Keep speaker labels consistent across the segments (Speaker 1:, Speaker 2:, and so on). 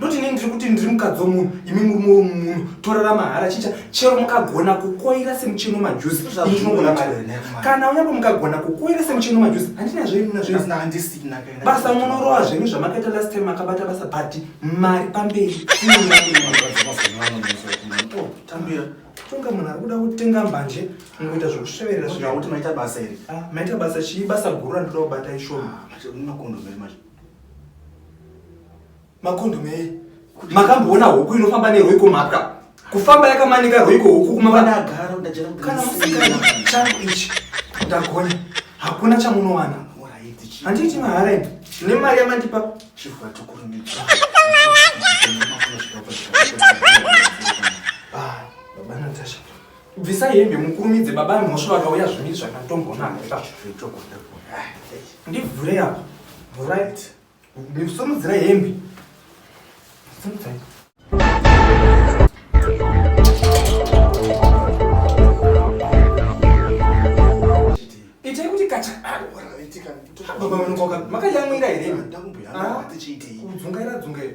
Speaker 1: Not ini ndiri kuti
Speaker 2: ndiri mukadzi womunhu imi murume womunhu torara mahara chicha chero mukagona kukoira semucheno majuzi inogona mari kana unyapo mukagona kukoira semucheno majuzi handina zvenuna zveandisina basa
Speaker 1: munorowa zvenyu
Speaker 2: zvamakaita last time makabata basa but mari pamberi
Speaker 1: tambira tonga munhu
Speaker 2: ari kuda kutenga mbanje mukuita zvekusveverera zvakuti maita basa
Speaker 1: iri ah, maita basa chii
Speaker 2: basa guru randinoda kubata ishoma
Speaker 1: ah,
Speaker 2: Makondo mei. Makamboona huku inofamba neroi kumhapwa. Kufamba yakamanika roi ko huku kuma vana agara ndajera. Kana
Speaker 1: musikana
Speaker 2: changu ichi. Ndagona. Hakuna chamunowana. Handiti mahara ini. Ne mari yamandipa chivwa
Speaker 1: tukurumidza. Ah,
Speaker 2: baba Natasha. Bvisa hembe mukurumidze baba mhosva vakauya zvimiri zvakatombonaaipa. Ndivhure apa. Right. Ndikusimudzira hembe. Simudzai. Itai kuti kacha. Baba vanokaka. Makayamwira here? Ndakumbuya. Ah.
Speaker 1: Tichiitei. Kudzungaira dzungaira.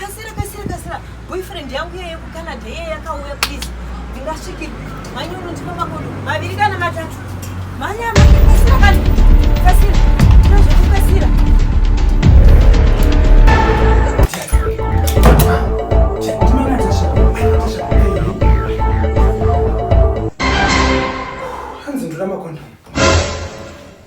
Speaker 3: Kasira kasira kasira. Boyfriend yangu yeye ku Canada yeye yakauya please. Ndingasviki. Manyoro ndipo makodo. Maviri kana matatu. Manya manya kasira kana. Kasira. Ndozvo kasira.
Speaker 2: Hanzi ndura makondo.